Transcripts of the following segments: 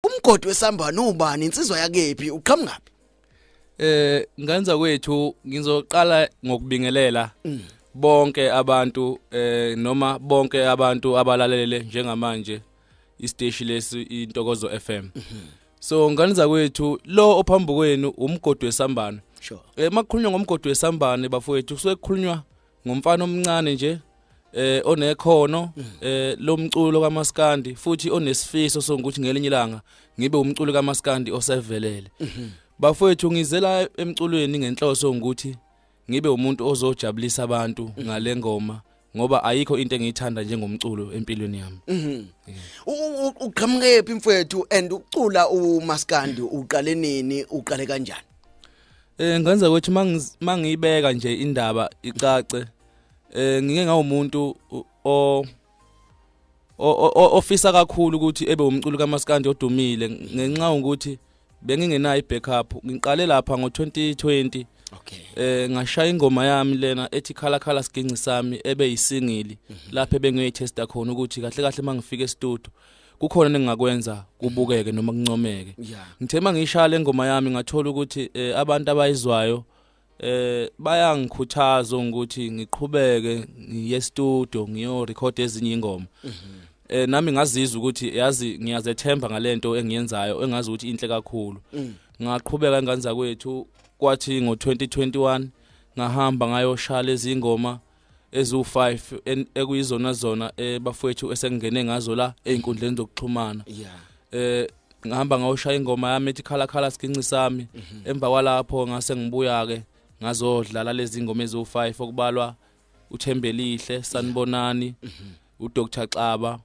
umgodi wesambane ubani insizwa yakephi uqhamungaphi eh nganza kwethu ngizoqala ngokubingelela mm. bonke abantu eh noma bonke abantu abalalele njengamanje isteshi lesi intokozo FM mhm. so ngane zakwethu lo ophambi kwenu umgodi wesambane sure eh makukhulunywa ngomgodi wesambane bafowethu kusuke kukhulunywa ngumfana omncane nje eh onekhono mm. eh lomculo kamaskandi futhi onesifiso sokuthi ngelinye ilanga ngibe umculo kamaskandi osevelele mhm. bafowethu ngizela emculweni ngenhloso ukuthi ngibe umuntu ozojabulisa abantu mhm. ngalengoma ngoba ayikho into engiyithanda njengomculo empilweni yami mhm. uqhamuke phi mfowethu and ucula umaskandi uqale nini uqale kanjani Eh ngenza ukuthi mangiyibeka nje indaba icace eh ngike ngawumuntu o ofisa kakhulu ukuthi ebe umculo kaMaskandi odumile ngenxa ukuthi bengingenayo i-backup ngiqale lapha ngo-2020 okay eh ngashaya ingoma yami lena ethi khala khala siginci sami ebe yisingili mhm. lapha ebengiyoyithesta khona ukuthi kahle kahle mangifika e-studio kukhona ningakwenza kubukeke noma kuncomeke ngithe mangishaya lengoma yami ngathola ukuthi eh, abantu abayizwayo eh bayangikhuthaza ukuthi ngiqhubeke ngiye studio ngiyo record ezinye ingoma mhm. eh nami ngazizwa ukuthi yazi ngiyazethemba ngalento engiyenzayo engazi ukuthi inhle kakhulu mm. ngaqhubeka ingane zakwethu kwathi ngo2021 ngahamba ngayoshala izingoma eziwu-five ekuyizona zona eh, bafowethu esengingene ngazo la ey'nkundleni zokuxhumana yeah. eh ngihamba ngawushaya ingoma yami ethi khala khala siginci sami mhm. emva kwalapho ngase ngibuya ke ngazodlala lezi ngoma eziwu-five okubalwa uthembelihle sanibonani mhm. udr xaba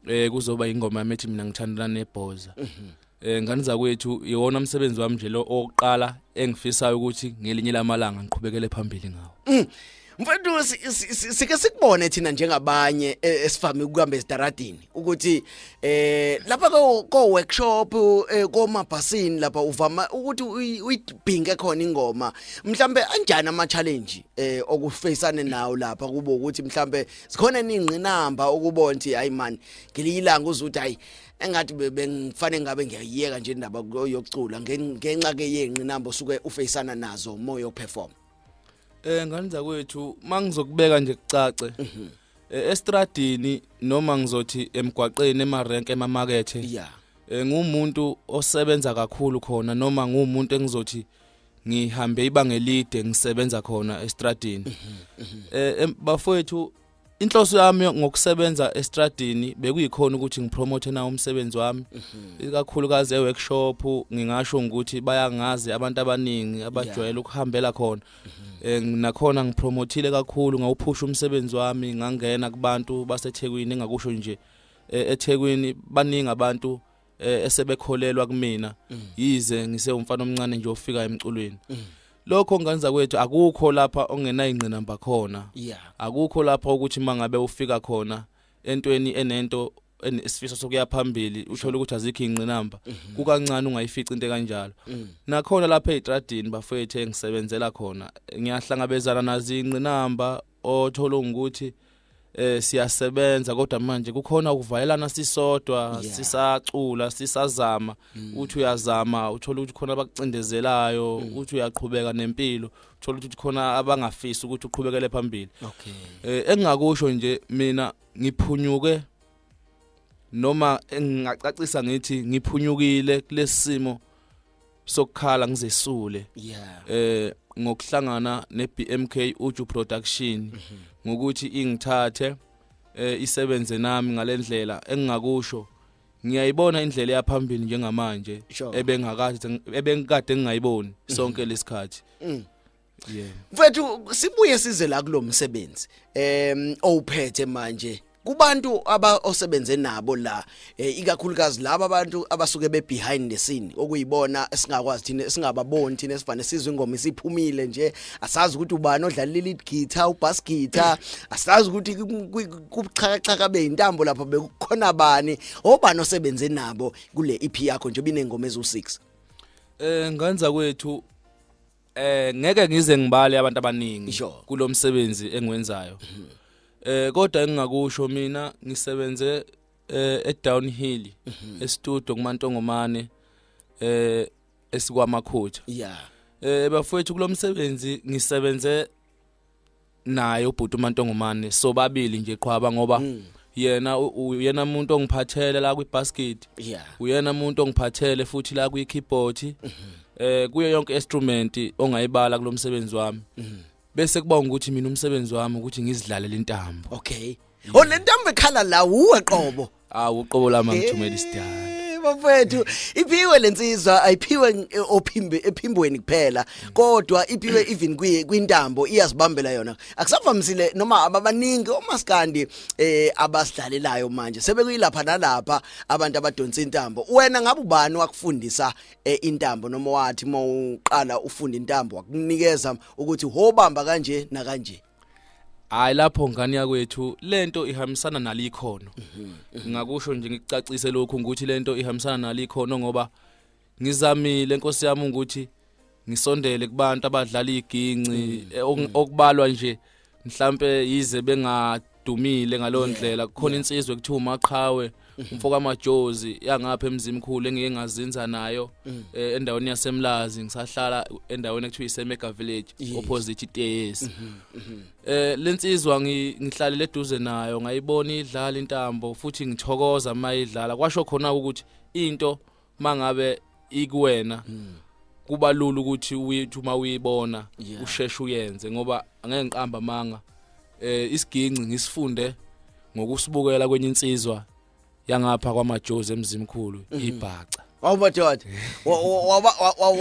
eh kuzoba ingoma yami ethi mina ngithandana nebhoza mhm. eh ngani zakwethu iwona umsebenzi wami nje lo oqala engifisayo ukuthi ngelinye lamalanga ngiqhubekele phambili ngawo mm. mfethu sike sikubone thina njengabanye e, esivame ukuhamba esitaradini ukuthi eh lapha ko ko workshop e, komabhasini lapha uvama ukuthi uyibhinge khona ingoma mhlambe anjani ama challenge eh okufacane nawo lapha kubo ukuthi mhlambe zikhona ningqinamba ukubona ukuthi hayi man ngiliyilanga uze ukuthi hayi engathi bengifanele ngabe ngiyayiyeka nje indaba yokucula ngenxa ke yenqinamba osuke ufeyisana nazo umoya operform eh ngani zakwethu mangizokubeka nje kucace mhm. eh, estradini noma ngizothi emgwaqeni emarenke emamakethe yeah eh, ngumuntu osebenza kakhulu khona noma ngumuntu engizothi ngihambe ibanga elide ngisebenza khona estradini mhm, mhm. eh bafowethu inhloso yami ngokusebenza estradini bekuyikhona ukuthi ngipromote na umsebenzi wami mhm. ikakhulukazi eworkshop ngingasho ukuthi bayangazi abantu abaningi abajwayele ukuhambela khona eh, nakhona ngipromothile kakhulu ngawuphusha umsebenzi wami ngangena kubantu baseThekwini engakusho nje eh, eThekwini baningi abantu eh, esebekholelwa kumina mm. yize ngisewumfana omncane nje ofika emculweni mm. lokho nganza kwethu akukho lapha ongenayingqinamba khona akukho lapha ukuthi mangabe ufika khona entweni enento isifiso sokuya phambili uthole ukuthi azikho ingqinamba mhm. kukancane ungayifici into kanjalo mm. nakhona lapha eTradini bafethu engisebenzela khona ngiyahlangabezana nazo ingqinamba othola ukuthi eh siyasebenza kodwa manje kukhona ukuvalelana sisodwa sisacula sisazama mm. uthi uyazama uthola ukuthi khona abakucindezelayo mm. uthi uyaqhubeka nempilo uthola ukuthi khona abangafisi ukuthi uqhubekele phambili okay eh, engingakusho nje mina ngiphunyuke noma engingacacisa ngithi ngiphunyukile kulesimo sokukhala ngizesule yeah eh ngokuhlangana neBMK Uju Production mhm. ngokuthi ingithathe eh isebenze nami ngalendlela engingakusho ngiyayibona indlela eyaphambili njengamanje ebengakade ebengikade ngingayiboni sonke lesikhathi mm. yeah mfethu sibuye size la kulomsebenzi em owuphethe manje kubantu aba osebenze nabo la eh, ikakhulukazi laba abantu abasuke be behind the scene okuyibona esingakwazi thina esingababoni thina esivane sizwe ingoma isiphumile nje asazi ukuthi ubani odlala leli guitar ubass guitar asazi ukuthi kubuxhakaxhaka beintambo lapha bekukhona bani obani osebenze nabo kule EP yakho nje binengoma ezu6 eh nganza kwethu Eh ngeke ngize ngibale abantu abaningi Sure. Mhm. kulomsebenzi engiwenzayo. Eh kodwa engingakusho mina ngisebenze eh eDownhill Mhm. estudio kuMantongomane eh esikwaMakhutha. yeah Eh bafowethu kulomsebenzi ngisebenze naye ubhuti uMantongomane sobabili nje qhwaba ngoba mm. yena uyena umuntu ongiphathele la kwibasket yeah. uyena umuntu ongiphathele futhi la kwi keyboard mm -hmm. eh kuyo yonke instrument ongayibala kulomsebenzi wami mm -hmm. bese kuba ukuthi mina umsebenzi wami ukuthi ngizidlalele intambo okay oh lentambo ekhala la uwe qobo Hawu uqobo lami ngithumela isidala. bafethu iphiwe lensizwa ayiphiwe eh, ophimbe ephimbweni kuphela kodwa iphiwe even kwi kwintambo iyazibambela yona akusavamisile noma ababaningi omaskandi eh abasidlalelayo manje sebekuyilapha nalapha abantu abadonsa intambo wena ngabe ubani wakufundisa eh, intambo noma wathi mawuqala ufunda intambo wakunikeza ukuthi hobamba kanje na kanje hayi lapho ngane yakwethu lento ihambisana nalikhono ngakusho nje ngikucacise lokhu ukuthi lento ihambisana nalikhono ngoba ngizamile inkosi yami ukuthi ngisondele kubantu abadlala iginci eh, ok- okubalwa nje mhlambe yize bengadumile ngaleyo ndlela kukhona insizwe kuthiwa umaqhawe umfoka majozi yangapha emzimkhulu engike ngazinza nayo mm. eh, endaweni yasemlazi ngisahlala endaweni ekuthiwa isemega village opposite iteyesi mm-hmm, mm-hmm. eh lensizwa ngihlalele eduze nayo ngayibona idlala intambo futhi ngithokoza mayidlala kwasho khona ukuthi into mangabe ikuwena mm. kuba lula ukuthi uyithi uma uyibona yeah. usheshe uyenze ngoba angeke ngiqamba amanga eh isiginci ngisifunde ngokusibukela kwenye insizwa yangapha kwamajozi emzimkhulu mm. ibhaca Wawubadoda.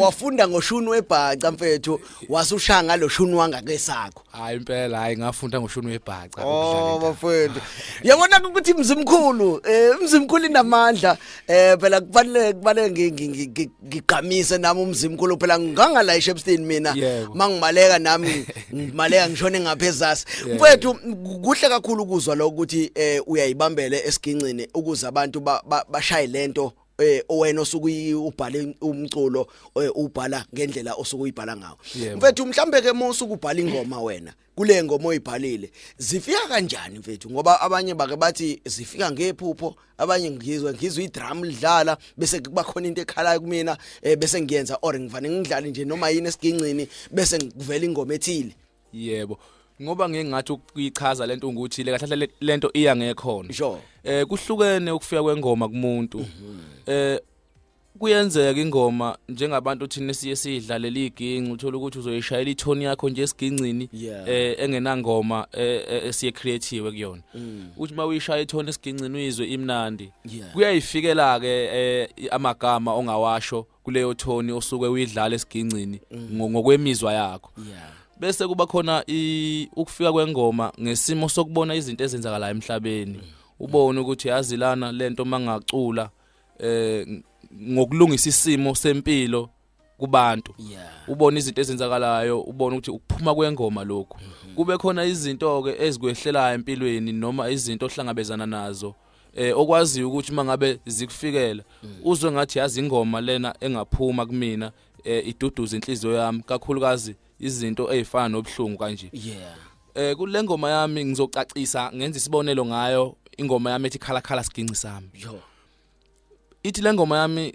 Wafunda ngoshuni webhaca mfethu, wasushaya ngaloshuni wangakesakho. hayi impela hayi ngafunda ngoshuni webhaca oh bafowethu yabona ukuthi imzimkhulu eh imzimkhulu inamandla eh phela kufanele kufanele ngigqamise nami umzimkhulu phela ngangala eShepstein mina mangimaleka nami ngimaleka ngishone ngaphezasi mfowethu kuhle kakhulu ukuzwa lo ukuthi eh uyayibambele esigincini ukuze abantu bashaye lento eh wena osuke ubhale umculo eh, ubhala ngendlela osuke uyibhala ngawo mfethu mhlambe ke musu kubhala ingoma wena kule ngoma oyibhalile zifika kanjani mfethu ngoba abanye bake bathi zifika ngephupho abanye ngizwe ngizwe idrum lidlala bese kuba khona into ekhalayo kumina eh, bese ngiyenza or ngivane ngidlale nje noma yini esigincini bese ngivela ingoma ethile yebo ngoba ngeke ngathi ukuyichaza lento ukuthi le kahle kahle lento iya ngekhona sure. eh kuhlukene ukufika kwengoma kumuntu mhm. eh kuyenzeka ingoma njengabantu thina siye sidlalela iginci uthola ukuthi uzoyishayela ithoni yakho nje esigingcini eh engenangoma eh, eh, esiye creative kuyona mm. uthi uma uyishaya ithoni esigingcini uyizwe imnandi kuyayifikela ke eh, amagama ongawasho kuleyo tone osuke uyidlala esigingcini mm. ngokwemizwa yakho yeah bese kuba khona ukufika kwengoma ngesimo sokubona izinto ezenzakala emhlabeni mm. ubone ukuthi yazilana lento mangacula eh ngokulungisa isimo sempilo kubantu ubona izinto ezenzakalayo ubona ukuthi ukuphuma kwengoma lokhu mm-hmm. kube khona izinto ke ezikwehlelayo empilweni noma izinto ohlangabezana nazo mm. eh okwaziyo ukuthi mangabe zikufikela mm. uzwe ngathi yazi ingoma lena engaphuma kumina eh, iduduza inhliziyo yami kakhulukazi izinto ezifana nobuhlungu kanje yeah eh kule ngoma yami ngizocacisa ngenza isibonelo ngayo ingoma yami ethi khala khala siginci sami yo ithi le ngoma yami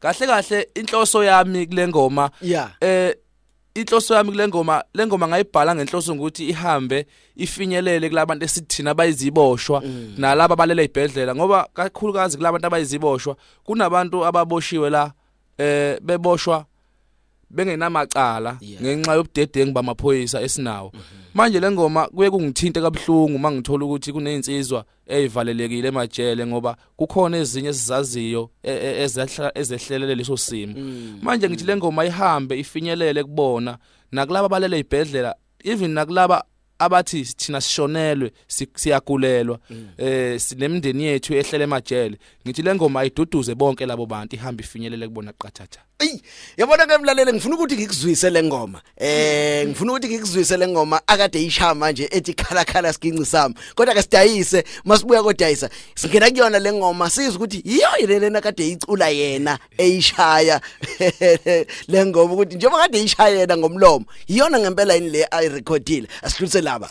kahle kahle inhloso yami kule ngoma yeah. eh inhloso yami kule ngoma le ngoma ngayibhala ngenhloso ukuthi ihambe ifinyelele kulabantu esithina abayiziboshwa mm. nalabo abalele ibhedlela ngoba kakhulukazi kulabantu abayiziboshwa kunabantu ababoshiwe la eh beboshwa bengenamacala ngenxa yobudedengu bamaphoyisa esinawo mhm. manje lengoma kuye kungithinte kabuhlungu mangithola ukuthi kunezinsizwa eyivalelekile emajele ngoba kukhona ezinye esizaziyo e, e, ezehlelele leso simo mm. manje ngithi lengoma ihambe ifinyelele kubona nakulabo balele ibhedlela even nakulaba abathi thina sishonelwe siyagulelwa mm. eh sinemndeni yethu ehlele emajele ngithi lengoma ayiduduze bonke labo bantu ihamba ifinyelele kubona qathatha Ey yabona ke mlalele ngifuna ukuthi ngikuzwise lengoma eh ngifuna ukuthi ngikuzwise lengoma akade ishaya manje ethi khala khala siginci sami kodwa ke sidayise masibuya kodayisa singena kuyona lengoma sizwe ukuthi yiyo lena kade icula yena eyishaya lengoma ukuthi njengoba kade ishaya yena ngomlomo yiyona ngempela yini le ayirecordile asidlulise laba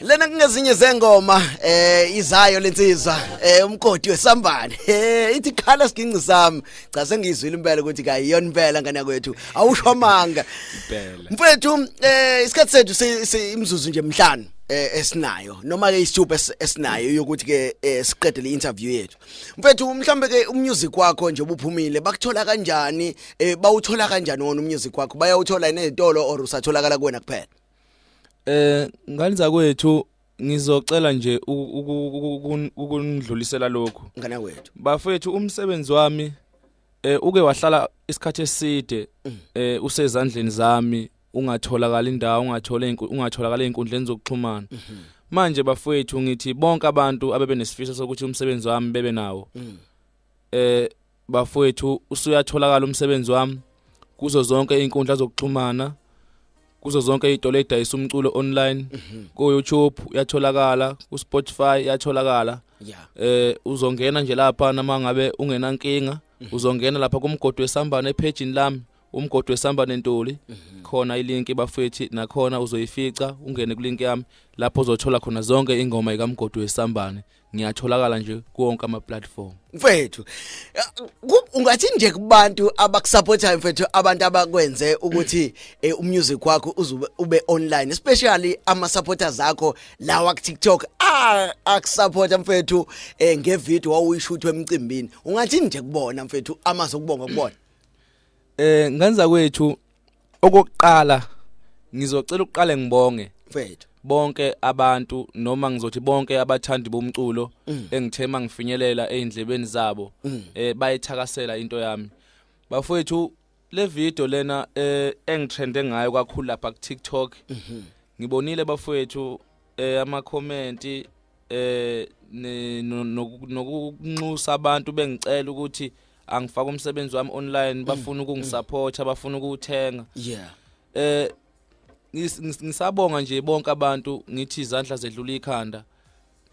lena kungezinye zengoma eh izayo lensizwa eh umgodi wesambane eh ithi khala siginci sami cha sengizwile impela ukuthi kayiyona impela ngane yakwethu awusho amanga impela mfethu eh isikhathi sethu simzuzu nje mhlanu eh, esinayo noma ke isithupa esinayo yokuthi ke eh, siqede le interview yethu mfethu mhlambe ke umusic wakho nje ubuphumile bakuthola kanjani eh, bawuthola kanjani wona umusic wakho bayawuthola nezitolo or usatholakala kuwena kuphela Eh ngani zakwethu ngizocela nje ukundlulisela lokho. Ngane wethu. Bafethu umsebenzi wami eh uke wahlala isikhathi eside mm. eh usezandleni zami ungatholakala indawo ungathola ungatholakala einkundleni zokuxhumana. Mhm. Manje bafethu ngithi bonke abantu abebenesifiso sokuthi umsebenzi wami bebe nawo. Mm. Eh bafowethu usuyatholakala umsebenzi wami kuzo zonke iy'nkundla zokuxhumana kuzo zonke iy'tolo ey'dayisa umculo online mhm. ku-youtube uyatholakala ku-spotify uyatholakala eh uzongena nje lapha noma ngabe ungenankinga mhm. uzongena lapha kumgodi wesambane ephejini lami umgodi wesambane ntuli mhm. khona ilinki bafethi nakhona uzoyifica ungene kulinki yami lapho uzothola khona zonke ingoma ikamgodi wesambane ngiyatholakala nje kuwonke ama platform mfethu ungathi nje kubantu abakusupportayo mfethu abantu abakwenze ukuthi eh, umusic wakho uzube ube online especially ama supporters akho lawa ku TikTok akusupporta mfethu eh, nge video wawuyishuthwa emcimbini ungathi nje kubona mfethu amazokubonga kubona eh ngenza kwethu okokuqala ngizocela ukuqale ngibonge mfethu bonke abantu noma ngizothi bonke abathandi bomculo mm. engithema ngifinyelela eindlebeni zabo mm. eh bayithakasela into yami bafowethu le video lena eh engitrende ngayo kakhulu lapha ku TikTok mhm. ngibonile bafowethu eh ama comment eh nokunxusa abantu bengicela ukuthi angifaka umsebenzi wami online mm. bafuna ukungisupporta bafuna ukuthenga yeah eh ngisabonga nje bonke abantu ngithi izandla zedlula ikhanda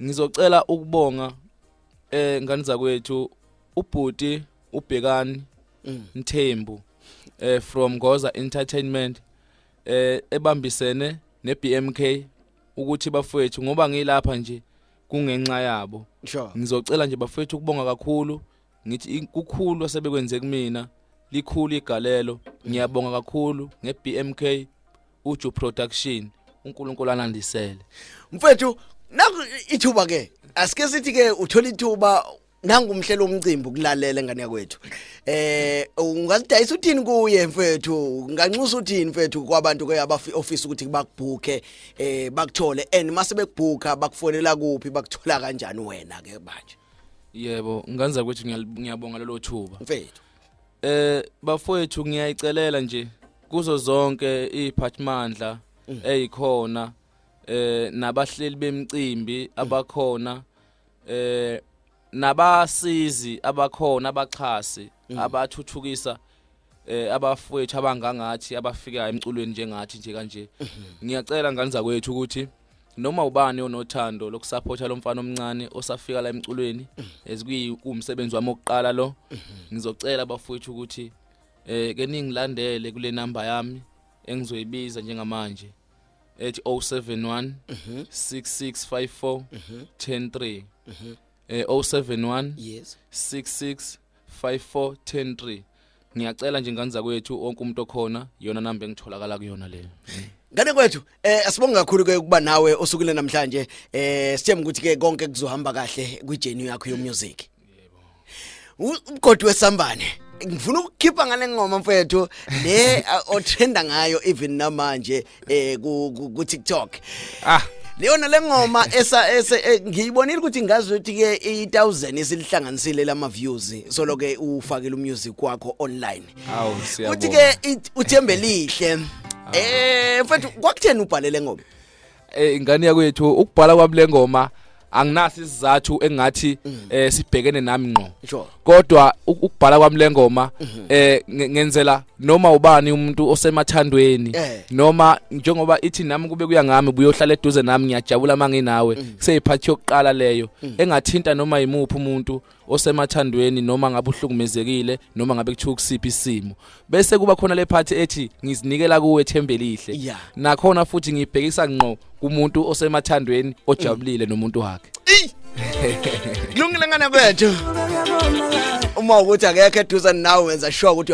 ngizocela ukubonga eh ngani zakwethu ubhuti ubhekani mm. Mthembu eh from Goza Entertainment eh ebambisene neBMK ukuthi bafowethu ngoba ngilapha nje kungenxa yabo sure ngizocela nje bafowethu ukubonga kakhulu ngithi kukhulu asebekwenze kumina likhulu igalelo ngiyabonga kakhulu ngeBMK uju production uNkulunkulu anandisele mfethu naku ithuba ke asike sithi ke uthola ithuba nangu umhleli womcimbi ukulalela engane yakwethu eh ungasidayisa uthini kuye mfethu unganxusa uthini mfethu kwabantu ke abaoffice ukuthi bakubhuke eh bakuthole and mase bekubhuka bakufonela kuphi bakuthola kanjani wena ke manje yebo nganza kwethu ngiyabonga lelo thuba mfethu eh bafowethu ngiyayicelela nje kuzo zonke iziphathimandla mm. ezikhona eh nabahleli bemcimbi abakhona mm. eh nabasizi abakhona abaxhasi mm. abathuthukisa eh abafowethu abangangathi abafika emculweni njengathi nje kanje mhm. ngiyacela ngane zakwethu ukuthi noma ubani onothando lokusupporta lomfana omncane osafika la emculweni mhm. ezikuyikumsebenzi wami oqala lo mhm. ngizocela abafowethu ukuthi eh ke ningilandele kule number yami engizoyibiza njengamanje ethi 071 6654 103 eh 071 yes 66 5410 ngiyacela nje ngane zakwethu onke umuntu okhona yona namba engitholakala kuyona leyo ngane kwethu eh asibonge kakhulu ke ukuba nawe osukile namhlanje eh sithemba ukuthi ke konke kuzohamba kahle kwi journey yakho yomusic umgodi wesambane ngifuna ukukhipha ngale ngoma mfethu le uh, otrenda ngayo even namanje eh ku, ku, ku TikTok ah leyona lengoma esa ese eh, ngiyibonile ukuthi ngazi ukuthi ke i1000 isilihlanganisile lama views so loke ufakile umusic wakho online awu siyabonga uthi ke uthembelihle eh mfethu kwakutheni ubhalele ngoma eh ingane yakwethu ukubhala kwami lengoma anginasi isizathu engathi mm. eh sibhekene nami ngqo kodwa ukubhala kwami lengoma mm-hmm. eh ngenzela noma ubani umuntu osemathandweni eh. noma njengoba ithi nami kube kuya ngami buyohlala eduze nami ngiyajabula manginawe mm. kuseyiphathi yokuqala leyo mm. engathinta noma yimuphi umuntu osemathandweni noma ngabe uhlukumezekile noma ngabe kuthiwa kusiphi isimo bese kuba khona le phathi ethi ngizinikela kuwe thembelihle yeah. nakhona futhi ngibhekisa ngqo kumuntu osemathandweni ojabulile mm. nomuntu wakhe kulungile ngane kwethu uma ukuthi akekho eduze nawe wenza sure ukuthi